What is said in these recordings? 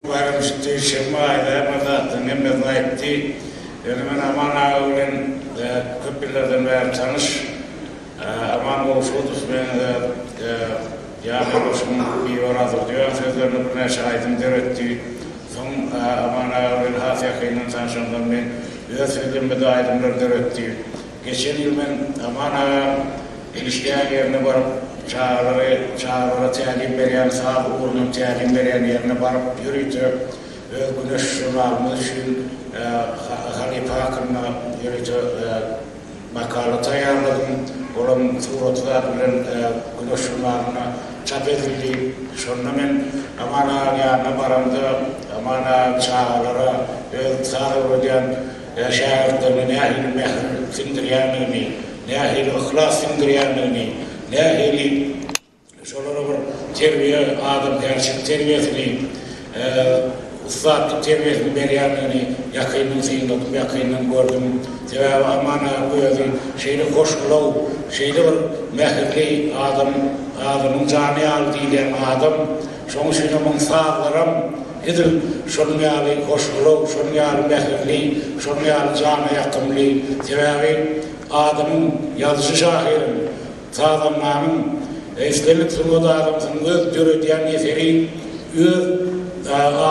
Baýramçy duşenbe aýlaýan bir zatlaryň hemmesini aýtdy. Ýöne men Aman aga bilen köp ýyllardan bäri tanyş. Aman Gowşudow meňe-de Ýaňy goşuň Bibar adyr diýen sözlerini birnäçe aýdym döretdi. Soň Aman aga bilen has ýakyndan tanyşandan men öz sözlemede aýdymlar döretdi. Geçen ýyl men Aman aga işleýän ýerine baryp, çagalary, çagalara tälim berýän, saz ugrunyň tälim berýän ýerine baryp ýörite öz Güneş žurnalymyz üçin halypa hakynda ýörite makala taýýarladym. Olam suraty zat bilen Güneş žurnalynda çap edildi. Şonda men Aman agaň ýanyna baramda, Aman aga çagalara öz saz öwredýän, Ä şägirtlerine nähili mähir siňdirýändigini, nähili yhlas siňdirýändigini, nähili şolara bir terbiýe, adamkärçilik terbiýesini, ussatlyk terbiýesini berýändigini ýakyndan synladym, ýakyndan gördüm. Sebäbi Aman aga özi şeýle hoşgylaw, şeýle bir mähirli adam, adamyň jany ýaly diýilýän adam. Şoň üçinem oň sazlaram. Edil şonuň ýaly hoşgylaw, şonuň ýaly mähirli, şonuň ýaly jana ýakymly. Sebäbi adamyň, ýazyjy-şahyryň, sazandanyň, islendik sungat adamsynyň öz döredýän eseri öz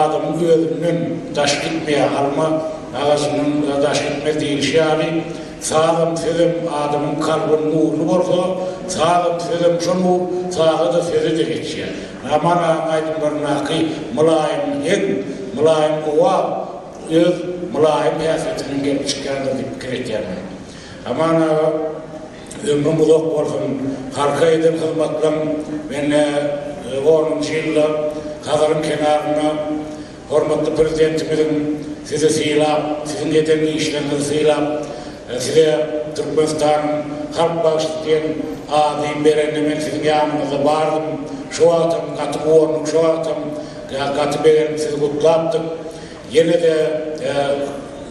adamyň özünden daş gitmeýär. Alma agajyndan daş gitmez diýlişi ýaly, sazam, sözem adamyň kalbyn nurly bolsa, sazam, sözem şol nur saza-da, söze-de geçýär. Namara aýdymlaryndaky mylaýym heň, mylaýym owaz öz mylaýym häsiýeti bilen gelip çykýandyr diýip pikir etýän men. Aman aga ömrüň uzak bolsun, halka eden hyzmatlaň mende onunjy ýylda Hazaryň kenarynda Hormatly Prezidentimiziň sizi sylap, siziň eden işleriňizi sylap, size Türkmenistanyň Halk bagşysy diýen ady berende men siziň ýanyňyzda bardym. Şo wagtam gaty guwandym, şo wagtam gaty begenip sizi gutlapdyk. Ýene-de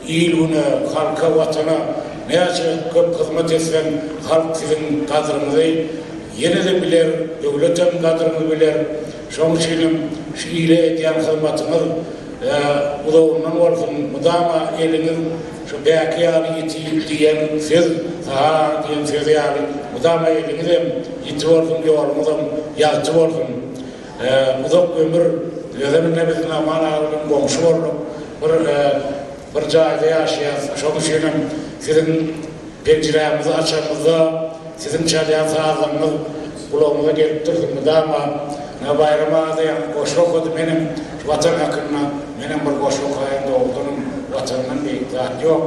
il-güne, halka, Watana näçe köp hyzmat etseň, halk siziň gadryňyzy ýene-de biler, döwletem gadryňyzy biler. Şoň üçinem şu ile edýän hyzmatyňyz uzagyndan bolsun, mydama eliňiz şu bäki ýaly ýiti diýen söz, Sahar diýen söz ýaly mydama eliňizem ýiti bolsun, ýoluňyzam ýagty bolsun. Uzak ömür, özem ine biz Aman aga bilen goňşy bolduk. Bir. Bir jaýda ýaşaýas, şoň üçinem siziň penjirämizi açanymyzda siziň çalýan sazlaryňyz gulagymyza gelip durdy mydama. Ynha Baýram aga-da goşgy okady, menem Watan hakynda menem bir goşgy okaýyn, dogrudanam Watandan beýik zat ýok.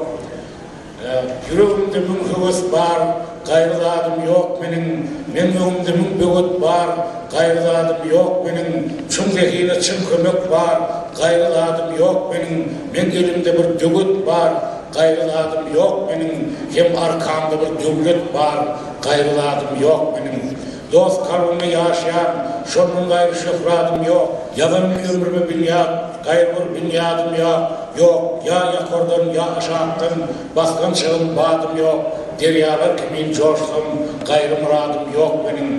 Ýüregimde müň höwes bar, gaýry zadym ýok meniň, Meň öňümde müň böwet bar, gaýry zadym ýok meniň, Çuň zehine çyn kömek bar, gaýry zadym ýok meniň, Meň elimde bir döwet bar, gaýry zadym ýok meniň, Hem arkamda bir döwlet bar, gaýry zadym ýok meniň. Dost kalbymda ýaşaýaň, şondan gaýry şöhradym ýok, Ýazan ömrüme binýat, gaýry bir binýadym ýa, ýok, Ýa ýokardan, ýa aşakdan, basgan çygym, badym ýok, Derýalar kimin joşsam, gaýry myradym ýok meniň.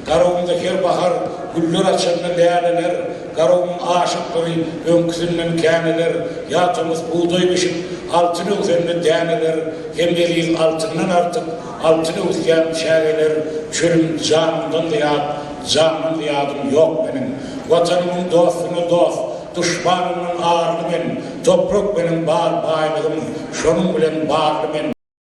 Garabymda her bahar güller açanda läleler, Garabymyň aşyklygy öňküsinden käneler, Ýa tomus bugdaý bişip, altyn öwsende däneler, Hem eziz altyndan artyk, Altyn öwüsýän çägeler çölüm Janymdan zyýat, jana zyýadym ýok meniň. Watanymyň dostuna dost, duşmanymdan arly men, Toprak meniň bar baýlygym, şonuň bilen barly men.